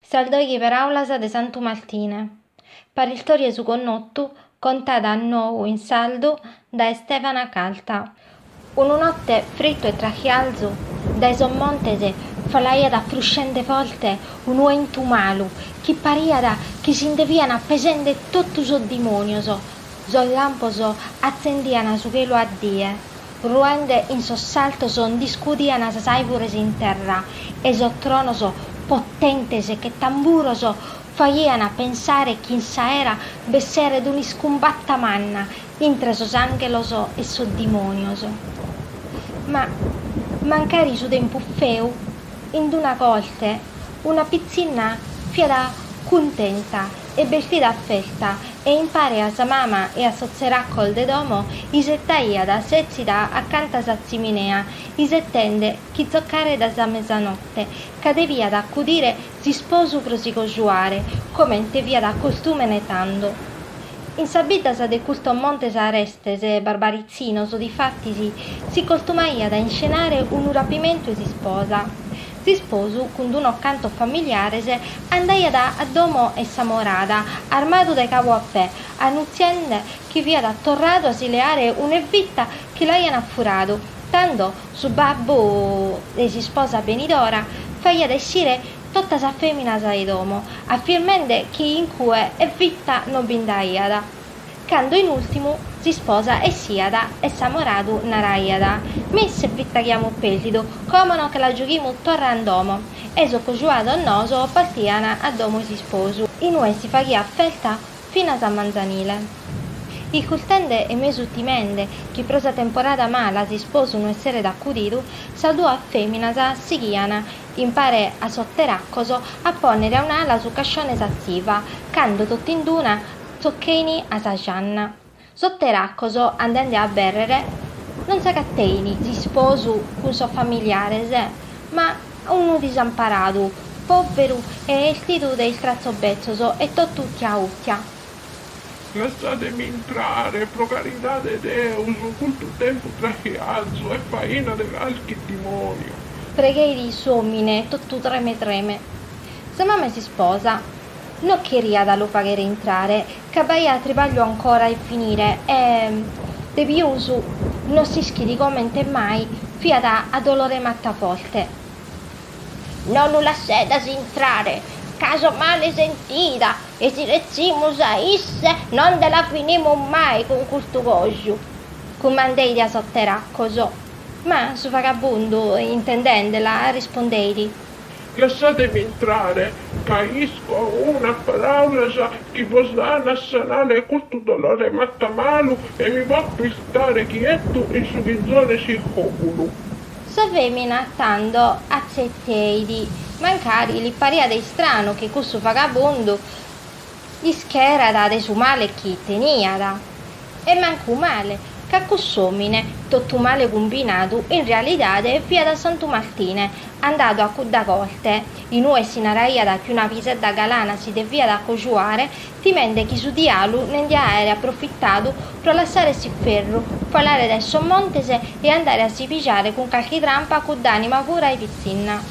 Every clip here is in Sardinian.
Sas doighi paràulas de Santu Martine. Paristòria 'e su connotu, contada a nou in sardu dae Stefana Carta. Una note fritu e trachiarzu dae sos montes falaiat fruscende forte unu 'entu malu chi pariat chi si nde fian pesende totu sos dimonios. Sos lampos atzendian su chelu a die. Ruende in sos sartos ndi scudian sas àivures in terra e sos tronos potentes che tamburos faghian pensare chi in s'aera b'esseret un'iscumbatta manna intre sos ànghelos e sos dimònios. Ma mancari su tempus feu, in d-una corte una pitzinna fiat cuntenta e bestida a festa e impare a sa mama e a sos tzeracos de domo isetaiat setzida acanta a sa tziminea isetende chi tzocaret sa mesanote ca deviat acudire s'isposu pro si cojuare comente fiat costumene tando in sas biddas de custos montes arestes barbaritzinos difatis si costumaiat a inscenare unu rapimentu 'e s'isposa S'isposu, cun d'unos cantos familiares, andaiat a domo 'e s'amorada, armadu dae cabu a pè, annutziende chi fiat torradu a si leare un'evita chi l'aian furadu, tando su babbu de s'isposa benidora faghiat essire totas sas feminas 'e domo, affirmende chi in cue evita no bi nd'aiat. Cando in ùrtimu s'isposa essiat e s'amoradu naraiat, Mi s'evita chi amus pèrdidu, como nos che la giughimus torra in domo? E sos cojuados noos partian a domo 'e s'isposu. In ue si faghiat festa finas a manzanile. Iscurtende e mesu timende chi pro sa temporada mala s'isposu no esseret acudidu, sas duas feminas sighian, impare a sos teracos, a ponnere in su cascione s'atziva, cando totind'una, Tzocheini a sa janna. Sos teracos andende a abbèrrere non s'agateini s'isposu cun sos familiares ma unu disamparadu, pòveru e èstidu de istratzos betzos e totu ùtia ùtia. Lassade·mi intrare, pro caridade 'e Deus, custu tempus trachiarzu est faina de carchi dimòniu. Pregheit s'òmine totu treme treme. Sa mama 'e s'isposa No cheriat a lu faghere intrare, ca b'aiat tribagliu ancora 'e finire e, de pius, no s'ischit comente mai, fiat a dolore 'e mata forte. No lu lassedas intrare, ca so male sentida e si retzimus a isse no nde la finimus mai cun custu coju, cumandeit a sos teracos. Ma su vagabundu, intendendela, rispondeit. Lassatemi intrare, ca isco unas paràulas chi podent sanare custu dolore 'e mata malu e mi potzu istare chietu in su chizone iscuru. Sa fèmina tando atzeteit, mancari li pariat istranu chi cussu vagabundu. Ischerada de su male chi teniada. E mancu male, ca cuss'omine, totu male cumbinadu, in realidade fiat Santu Martine, andadu a cudda corte, in ue si naraiat chi una pisedda galana si deviat acojuare, timende chi su dialu ne ndiat aere aprofitadu pro lassare s'inferru, falare dae sos montes e andare a si pigare cun carchi trampa cudd'anima pura e pitzinna.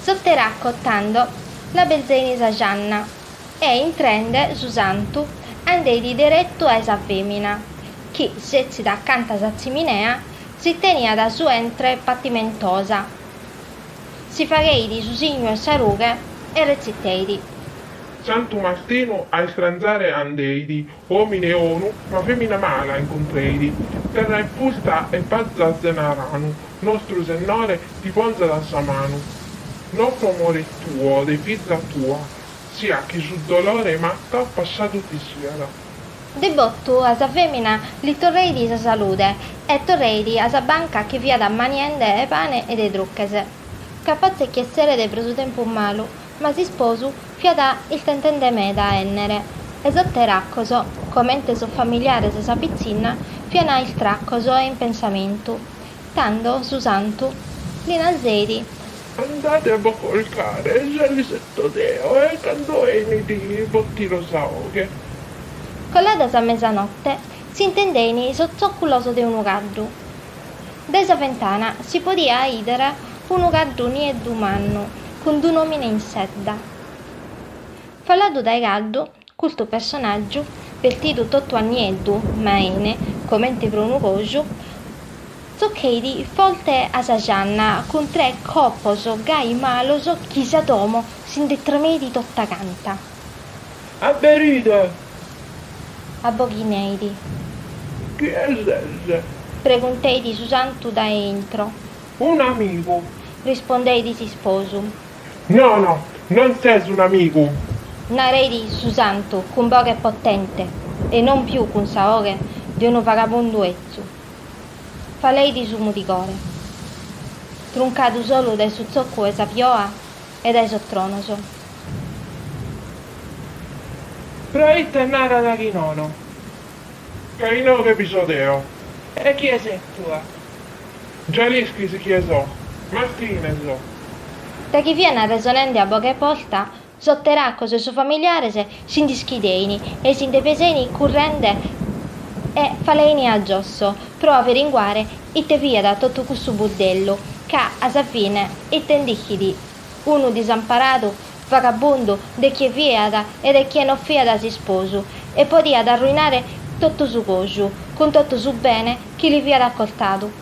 Sos teracos, tando, l'abelzein sa janna. E intrende su Santu andeit deretu a ue sa femina, chi, setzida acanta a sa tziminea, si teniat su 'entre patimentosa, si fagheit su signu 'e sa rughe e retziteit. Santu Martinu a istranzare andeit, Omine 'onu ma femina mala incontreit, terra infusta e pazza 'e ranu, nostru Sennore ti ponzat sa manu. No pro amore tuo de fiza tua, sia chi su dolore 'e matta passadu ti siat. De botu a sa femina li torreit sa salude e torreit a sa banca chi fiat maniende pane e dulches, ca paret chi esseret pro su tempus malu. Ma s'isposu fiat istentende meda a ènnere, e sos teracos, comente sos familiares e sa pitzinna, fiant istracos e in pensamentu, tando su Santu li narzeit. Andade a bos colcare, già l'isetto deo, e cando 'enit bos tiro sa 'oghe. Colada sa mesanotte, s'intendein sos zòculos de unu caddu. Dae sa fentana si podiat 'ìdere unu caddu nieddu mannu cun d'un'òmine in sedda. Faladu dae caddu, custu personàgiu, bestidu totu a nieddu, ma 'ene, comente pro unu coju, zocheit forte a sa janna cun tres colpos gai malos chi sa domo si nde tremeit tota canta. Aberide. Aboghineidi. Chie ses? Pregunteidi su santu dae intro. Un'amigu. Rispondeidi s'isposu. No, no, non ses un'amigu. Nareidi su santu cun boghe potente e non più cun sa 'oghe de unu vagabundu 'ezzu. Faleidi su mudigore. Truncadu solu dae su zoccu 'e sa pioa, E dae sos tronos. Proite narat chi nono. Ca inoghe bi so deo. E chie ses tue? Già l'isches chie so, Martine so. Da chi fian arresonende a boghe posta, sos teracos e sos familiares si nd'ischidein e si nde pesein currende e falein a giosso pro averinguare Ite fiat totu cussu buddellu, ca a sa fine ite nd'ischit unu disamparadu, vagabundu, de chie fiat e de chie no fiat s'isposu, e podiat arruinare totu su coju, cun totu su bene chi li fiat acostadu?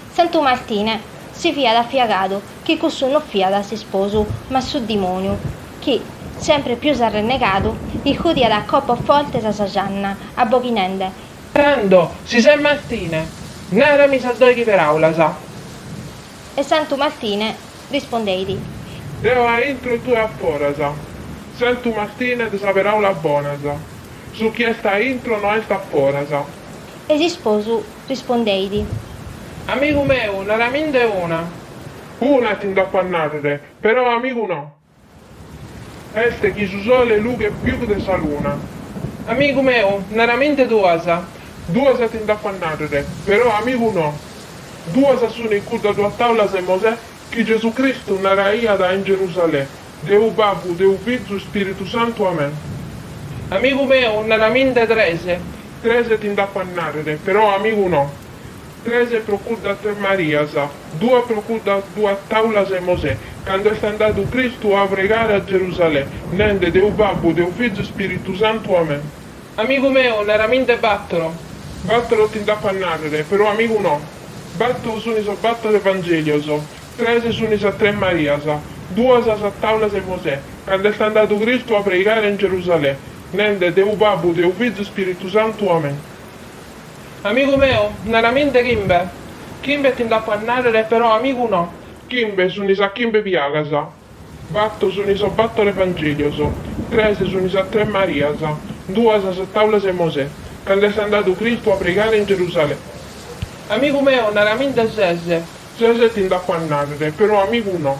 Santu Martine si fiat afiagadu chi cussu no fiat s'isposu, ma su dimoniu, chi, sempre pius arrennegadu, iscudiat a colpos fortes a sa gianna, abboghinende, Tando, si ses Martine, narami sas doighi peràulas. E Santu Martine rispondeit. Deo a intro e tue a foras. Santu Martine de sas peràulas bonas, su chi est a intro no est a foras. E s'isposu rispondeit. Amigu meu, naraminde una. Una ti nd'apo a nàrrere, però amigu no. Est chi su sole lughet pius de sa luna. Amigu meu, naraminde duas. Duas ti nd'apo a narrere, però amigu no. Duas sune cuddas duas taulas de Mosè chi Gesù Cristu naraiat in Gerusalè, Deu Babbu, Deu Fizu, Ispiritu Santu. Amen. Amigu meu, naraminde tres. Tres ti nd'apo a narrere, però amigu no. Tres pro cuddas tres Marias, duas pro cuddas duas taulas 'e Mosè, cando est andadu Cristu a pregare a Gerusalè, nende, Deu Babbu, Deu Fizu, Spiritu Santu. Amen. Amigu meu, naraminde battoro. Battoro ti nd'apo a narrere, però amigu no. Batto suni sos battor Evangelios, tres suni sas tres Marias, duas sas taulas 'e Mosè, cando est andadu Cristu a pregare in Gerusalè, nende, Deu Babbu, Deu Fizu, Spiritu Santu. Amen. Amigu meu, naraminde chimbe. Chimbe ti nd'apo a nàrrere, però amigu no. Chimbe sunt sas chimbe piagas. Bato sunt sos bator Evangèlios. Tres sunt sas tres Marias. Duas sas tàulas 'e Mosè. Cando est andadu Cristu a pregare in Gerusalè. Amigu meu, naraminde ses. Ses ti nd'apo a nàrrere, però amigu no.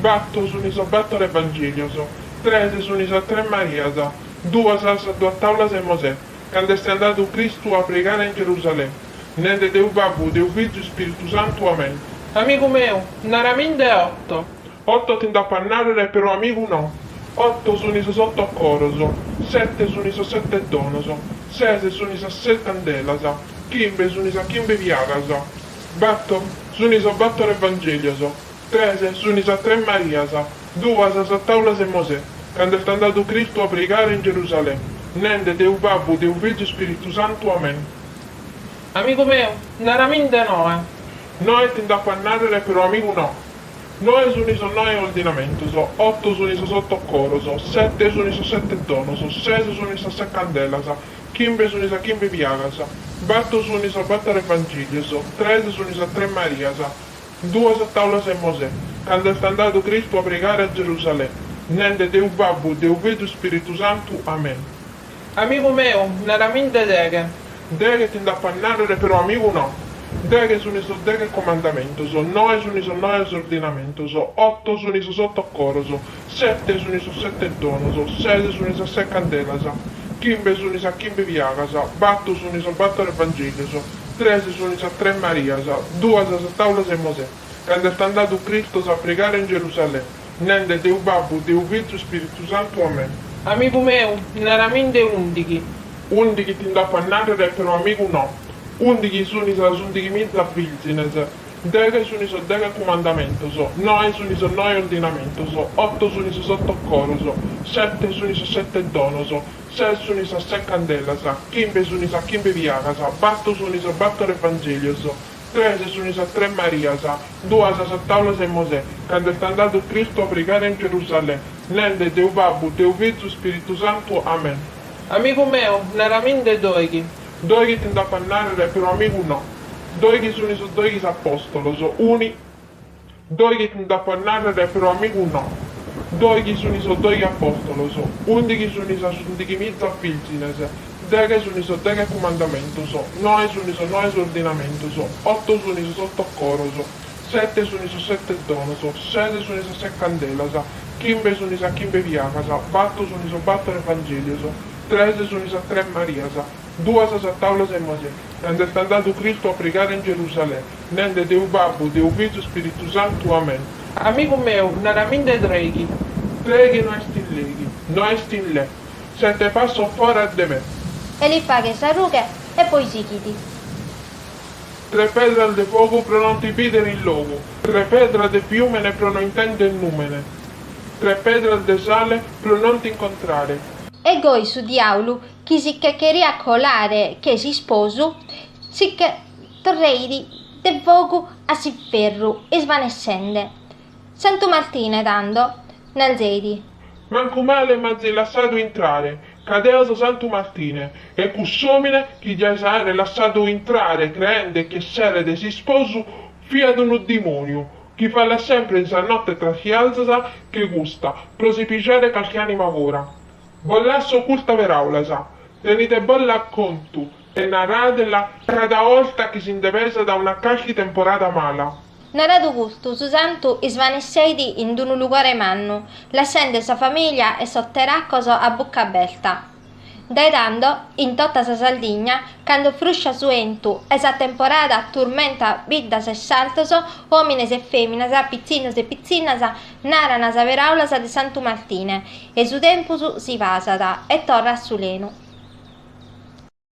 Batto suni sos battor Evangelios, tres suni sas tres Marias, duas sas duas taulas e Mosè, cando est andadu Cristu a pregare in Gerusalè, nende Deu Babbu, Deu Fizu, Ispiritu Santu. Amen. Amigu meu, naraminde otto. Otto ti nd'apo a narrere, però amigu no. Otto suni sos otto coros, sette suni sos sette donos, ses suni sas ses candelas, chimbe suni sas chimbe piagas, batto suni sos battor Evangelios, Tres suni sas Tres Marias, duas sas Taulas 'e Mosè, cando est andadu Cristu a pregare in Gerusalè, nende, Deu Babbu, Deu Fizu, Spiritu Santu. Amen. Amigu meu, naraminde Noe. Noe ti nd'apo a narrere però amigu no. Noe suni sos noe ordinamentos, otto suni sos otto coros, sette suni sos sette donos, ses suni sas ses candelas, chimbe suni sas chimbe piagas, batto suni sos battor evangilios, tres suni sas Tres Marias, Duas sas taulas 'e Mosè. Cando est andadu Cristu a pregare a Gerusalè, nende, Deu Babbu, Deu Fizu, Spiritu Santu. Amen. Amigu meu, naraminde deghe. Deghe ti nd'apo a narrere però amigu no. Deghe suni sos deghe comandamentos, noe suni sos noe ordinamentos, otto suni sos otto coros, Sete suni sos sete donos, ses suni sas ses candelas, chimbe suni sas chimbe piagas, bato suni sos bator evangelios, tres suni sas tres Marias, duas sas taulas 'e Mosè, cando est andadu Cristos a pregare in Gerusalè, nende, Deu Babbu, Deu Fizu, Ispiritu Santu. Amen. Amigu meu, naraminde undighi. Undighi ti nd'apo a narrere, però amigu no. Undighi suni sas undighi miza virgines. Deghe sunt sos deghe cumandamentos, noe sunt sos noe ordinamentos, oto sunt sos oto coros, sete sunt sos sete donos, ses sunt sas ses candelas, chimbe sunt sas chimbe piagas, bato sunt sos bator evangelios, tres sunt sas tres Marias, duas sas taulas 'e Mosè, cando est andadu Cristu a pregare in Gerusalè, nende, Deu Babbu, Deu Fizu, Spiritu Santu. Amen. Amigu meu, naraminde doighi, Doighi ti nd'apo a nàrrere però amigu no, doighi sunt sos doighi apòstolos, uni. Doighi ti nd'apo a nàrrere però amigu no, doighi sunt sos doighi apòstolos, undighi sunt sas undighi miza vìrgines, deghe sunt sos deghe cumandamentos, noe sunt sos noe ordinamentos, oto sunt sos oto coros, sete sunt sos sete donos, ses sunt sas ses candelas, chimbe sunt sas chimbe piagas, bato sunt sos bator evangèlios, Tres sunt sas tres Marias, duas sas taulas 'e Mosè, cando est andadu Cristu a pregare in Gerusalè, nende, Deu Babbu, Deu Fizu, Spiritu Santu. Amen. Amigu meu, naraminde treghi. Treghi no est in leghi. No est in le. Sette passos foras de me. E li faghet sa rughe e poi sighit. Tres pedras de fogu pro non ti bìdere in logu. Tres pedras de fiùmene pro no intèndere nùmene. Tre pedras de sale pro non t'incontrare. E goi su diaulu chi si che cheriat colare che s'isposu si che torreit de fogu a s'inferru isvanessende. Santu Martine tando narzeit. Mancu male m'azis lassadu intrare, ca deo so Santu Martine, e cuss'omine chi dias aere lassadu intrare creende chi esseret s'isposu fiat unu dimoniu, Chi fallat sempre in sa notte tra traschias che custa pro si pijare calchi anima ura. Bos lasso custas peraulas. Tenidebolas a contu e naradelas cada olta chi si nde pesat torra una calchi temporada mala. Naradu custu, su santu isvanesseit in d'unu lugore mannu, lassende sa familia e sos teracos a bucca aberta. Dae tando, in tota sa Sardigna, cando frusciat su 'entu e sa temporada turmentat biddas e sartos, òmines e fèminas, pitzinnos e pitzinnas, naran sas peràulas de Santu Martine e su tempus si pasat e torrat a su lenu.